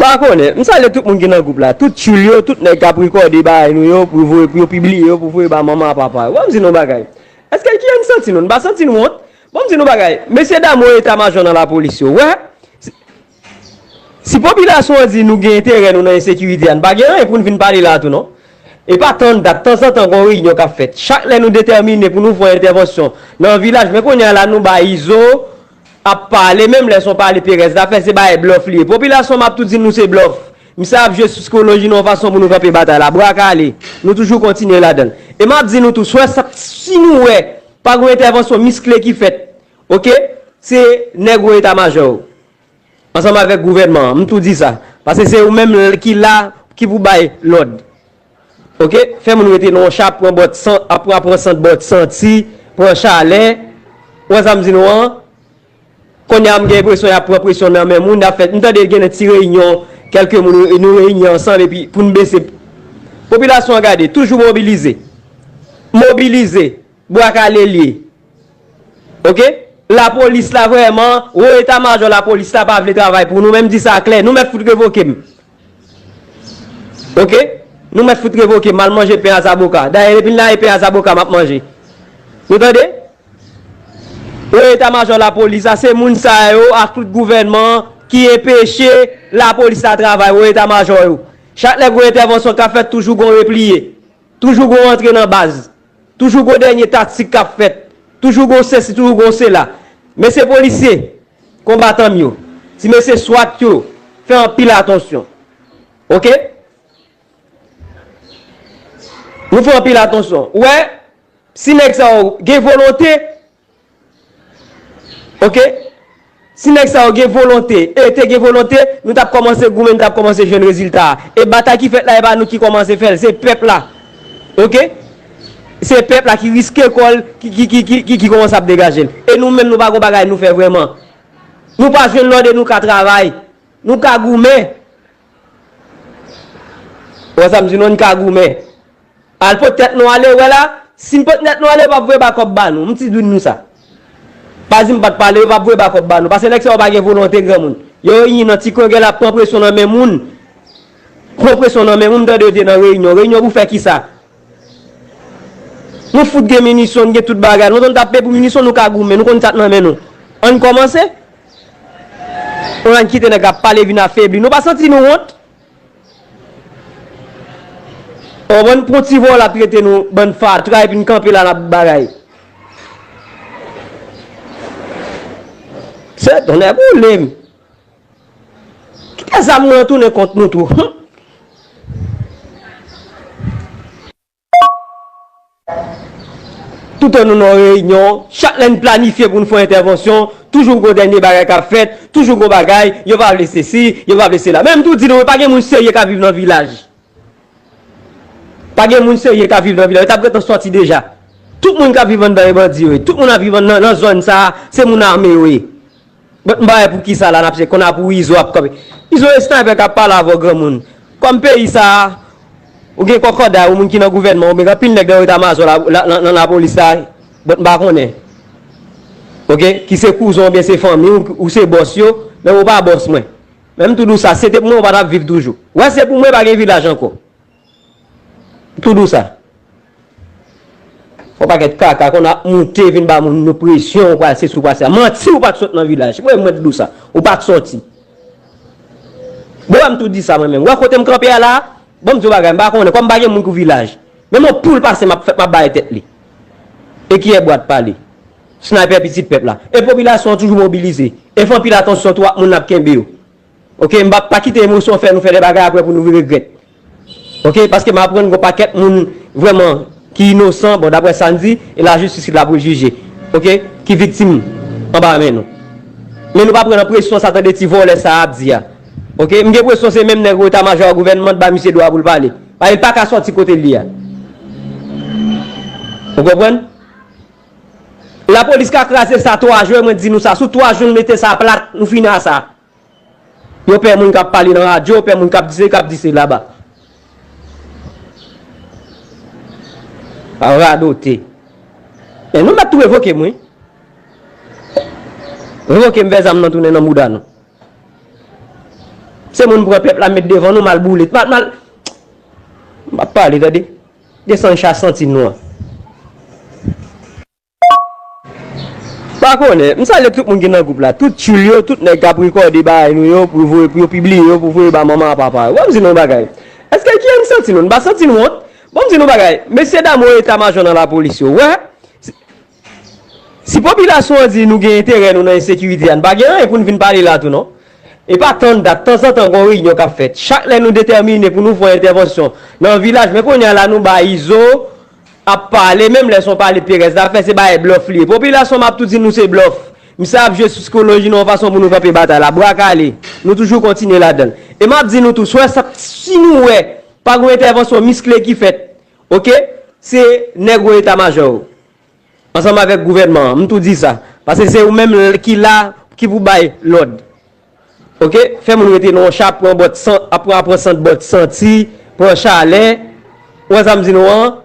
Pa konnen, m salye tout moun ki nan gwoup la, tout tchoul yo, tout nèg k ap rekòde bagay nou yo pou voye, pou yo pibliye yo, pou voye ba manman ak papa yo. Bon m di nou yon bagay, èske ki jan n santi nou? N pa santi n wont? Bon m di nou yon bagay, mesye dam wo eta majò nan lapolis yo, wè, Si popilasyon an di nou gen enterè nou nan ensekirite a, n pa gen anyen pou n vin pale la a tou non. E pa tann dat, tanzantan gon reyinyon k ap fèt. Chak lè nou detèmine pou nou fon entèvansyon nan vilaj, men kounye a la nou bay Izo ap pale, menm lè s on pale perèz la fè, se bay blòf li ye. Popilasyon m ap tou di nou se blòf. Misye ap jwe sou sikoloji nou yon fason pou nou kanpe batay la. Bra kale, nou toujou kontinye ladan l. E m ap di nou tou, swè sa, si nou wè pa gon entèvansyon miskle ki fèt Ok se nèg wo eta majò yo ansanm avèk gouvènman an m tou di sa pase se ou menm ki la ki pou bay lòd ok fè moun rete nan yon cha ap pran bòt san ap pran sant bòt santi pran chalè ou wè sa m di nou an konnya m gen enpresyon y ap pran presyon nan men moun y ap fè m tande gen de ti reyinyon kèlke moun nou reyini ansanm epi pou n bese popilasyon an gade toujou mobilize mobilize Bwa kale liye ok. La police la vreman wo eta majò la police la pa vle travay pou nou menm di sa klè nou mèt fout revokem ok nou mèt fout revokem mal manje pen a zaboka dayè depim la e pen a zaboka map manje nou tande wo eta majò la police la se moun sa yo ak tout gouvènman an ki enpeche la police la travay wo eta majò yo chak lè gon entèvansyon kap fèt toujou gon repliye toujou gon rantre nan baz. Toujou gon dènye taktik kap fèt, toujou gon sesi toujou gon sela. Mesye polisye, konbatan m yo, ti mesye swat yo, fè anpil atansyon. Ok. Nou fè anpil atansyon. Ou wè, si nèg sa yo gen volonte, Ok si nèg sa yo gen volonte e te gen volonte nou tap kòmanse goumen nou tap kòmanse jwenn rezilta a e batay ki fèt la e pa nou ki kòmanse fèl se pèp la ok se pèp la ki riske kòl ki kòmanse ap degajel e nou menm nou pa gon bagay nou fè vrèman nou pa jwenn lòd e nou ka travay nou ka goumen ou wè sa m di nou an nou ka goumen Al pot tèt nou ale wè la sim pot nèt nou ale yo pap voye bakòp ba nou mnti dwin nou sa pa dim pat pale yo pap voye bakòp ba nou pase nèg sa yo pa gen volonte granmoun yo reyin nan ti kwen gen la pran presyon nan men moun pran presyon nan men moun mtande yo di nan reyinyon reyinyon pou fè kisa nou fout gen minisyon nou gen tout bagay nou konn tap peye pou minisyon nou ka goumen nou konn sak nan men nou ann kòmanse on ann kite nèg ap pale vin afebli nou pa santi nou wont. Ou bann pon ti vòlè ap trete nou bann fatra epi n kanpe la nap bagay. Sè tonnè boule m. Kite zam nan tounen kont nou tou humm. Toutan nou nan yon reyinyon, chak lè n planifye pou n fè yon entèvansyon, toujou gon dènye bagay k ap fèt, toujou gon bagay, yo pa vle sesi, yo pa vle sela. Men m tou di nou, pa gen moun serye k ap viv nan vilaj. Pa gen moun serye k ap viv nan vilaj. Yo ta pretan sòti deja. Tout moun k ap viv anndan e bandi yo ye. Tout moun ap viv nan zòn sa a, se moun ame yo ye. Bon m pa wè poukisa la nap se konn a pou izo ap kanpe izo e sniper kap pale avèw granmoun kòm peyi sa ou gen kòkòday ou moun ki nan gouvènman oubyn gen anpil nèg nan etamajò nan lapolis la bon m pa konnen ok ki se kouzon oubyn se fanmi ou se bòs yo menm ou pa bòs mwen menm tou di w sa se te pou mwen ou pa tap viv toujou wè se pou mwen pa gen vilaj ankò. Tout dous sa. Yon pakèt kaka konn ap moute vin ba moun nou presyon ou pral sesi ou pral sela. Manti ou pat sot nan vilaj. Mwen mwen tout dous sa. Ou pat soti. Bon banm tout di sa mwen menm. Wè kotem kanpe a la? Banm di yon bagay mpa konnen kòm pa gen moun pou vilaj. Men yon poul pase map fè map bay tèt li. E kiyè bwat pale. Sniper pitit pèp la. E popilasyon an toujou mobilize. E fè anpil atansyon tou ak moun nap kenbe yo. Ok m pap pa kite emosyon fè nou fè de bagay aprè pou nou regrèt ok paske m aprann gon pakèt moun vrèman ki inosan bon daprè sa n di e la jistis ki la pou l jije ok ki viktim anba men nou men nou pa pran nan presyon sa tande ti vòlè sa ap di a ok m gen presyon se menm nèg eta majò gouvènman t ba misye dwa pou l pale paske l paka sòti kote l ye a ou konprann. La police ka kraze sa 3 jwe mwen di nou sa sou 3 jou nou mete sa plat nou fini a sa yo pè moun kap pale nan radyo yo pè moun kap di se kap di se la ba radote men nou mèt tou revoke m wi revoke m fè zam nan tounen nan mouda nou se moun pran pèp la met devan nou mal boule mal mal m pap pale tande. Desann cha santi nou an. Pa konnen, m salye tout moun ki nan gwoup la, tout tchoul yo, tout nèg k ap rekòde bagay nou yo pou voye, pou yo pibliye yo, pou voye ba manman a papa yo. Bon m di nou yon bagay, èske ki an n santi nou? N pa santi n wont? Bon m di nou yon bagay, mesye dam wo eta majò nan lapolis yo, wè, Si popilasyon an di nou gen enterè nou nan ensekirite a, n pa gen anyen pou n vin pale la tou non. E pa tann dat, tanzantan gon reyinyon k ap fèt. Chak lè nou detèmine pou nou fon entèvansyon nan vilaj, men kounye a la nou bay Izo ap pale, menm lè se yon pale perèz la fè, se bay blòf li ye. Popilasyon m ap tou di nou se blòf. Misye ap jwe sou sikoloji nou yon fason pou nou kanpe batay la. Bra kale, nou toujou kontinye ladan l. E m ap di nou tou, swè sa, si nou wè pa gon entèvansyon miskle ki fèt, Ok se nèg wo eta majò yo ansanm avèk gouvènman an m tou di sa pase se ou menm ki la ki pou bay lòd ok fè moun rete nan yon cha ap pran bòt san ap pran ap pran sant bòt santi pran chalè ou wè sa m di nou an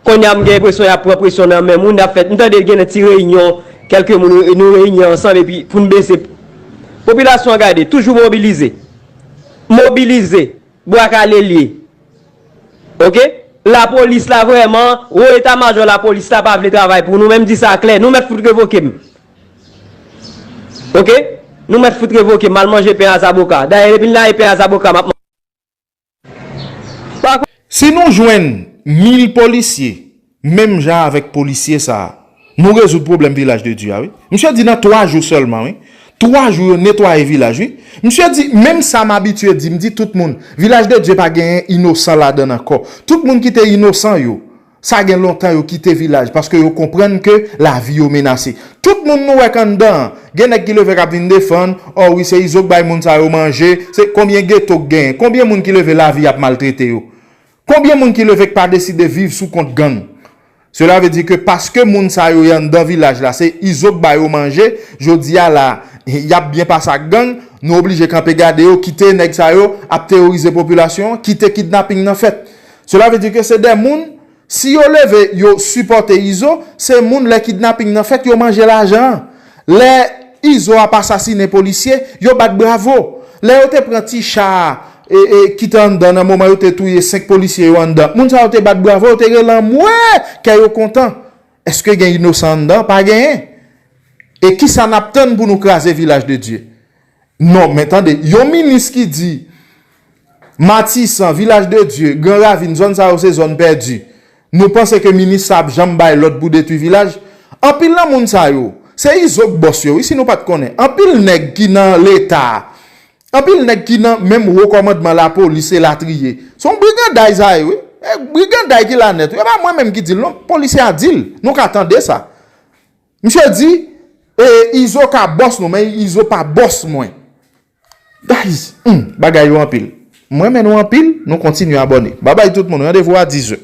konnya m gen enpresyon y ap pran presyon nan men moun y ap fè m tande gen de ti reyinyon kèlke moun nou reyini ansanm epi pou n bese popilasyon an gade toujou mobilize mobilize bwa kale l ye. Ok la police la vreman wo eta majò la police la pa vle travay pou nou men m di sa klè nou mèt fout revoke m ok nou mèt fout revoke m mal manje pen a zaboka dayè depi n lage pen a zaboka map manje pa Si nou jwenn mil polisye Menm jan avèk polisye sa a. Nou rezoud pwoblèm vilaj de Dye a wi. Misye di nan 3 jou sèlman wi. 3 jou yo netwaye vilaj wi. Misye di menm sa m abitye di m di tout moun vilaj de Dye pa genyen inosan ladan l ankò. Tout moun ki te inosan yo sa gen lontan yo kite vilaj paske yo konprann ke lavi yo menase. Tout moun nou wè k anndan an gen nèg ki leve k ap vin defann ò wi se izo k bay moun sa yo manje se konbyen geto k genyen konbyen moun ki leve lavi ap maltrete yo Konbyen moun ki leve k pa deside viv sou kont gang? Sela ve di ke paske moun sa yo y anndan vilaj la se Izo k ba yo manje, jodi a la y ap byen pase ak gang, nou oblije kanpe gade yo, kite nèg sa yo ap teworize popilasyon an, kite kidnaping nan fèt. Sela ve di ke se de moun, si yo leve yo sipòte Izo, se moun lè kidnaping nan fèt yo manje lajan an. Lè Izo ap asasinen polisye, yo bat bravo. Lè yo te pran ti cha a ki te anndan nan moman yo te touye 5 polisye yo anndan, moun sa yo te bat bravo, yo te rele anmwee! Kè yo kontan. Eske gen inosan anndan? Pa genyen. E kisa n ap tann pou nou kraze vilaj de Dye? Non, men tande, yon minis ki di Matisan, Vilaj de Dye, Gran Ravin, zòn sa yo se zòn pèdi, nou panse ke minis sa ap janm bay lòd pou detwi vilaj? Anpil nan moun sa yo, se izo k bòs yo wi si nou pa t konnen. Anpil nèg ki nan Leta, anpil nèg ki nan menm wo kòmandman lapolis elatriye, se yon briganday sa ye wi. E briganday ki la nèt wi, e pa mwen menm ki di l non, polisye a di l, nou ka tande sa. Misye di E izo ka bòs nou men izo pa bòs mwen Guys humm bagay yo anpil M renmen nou anpil nou kontinye abòne Babay tout moun randevou a 10 heures.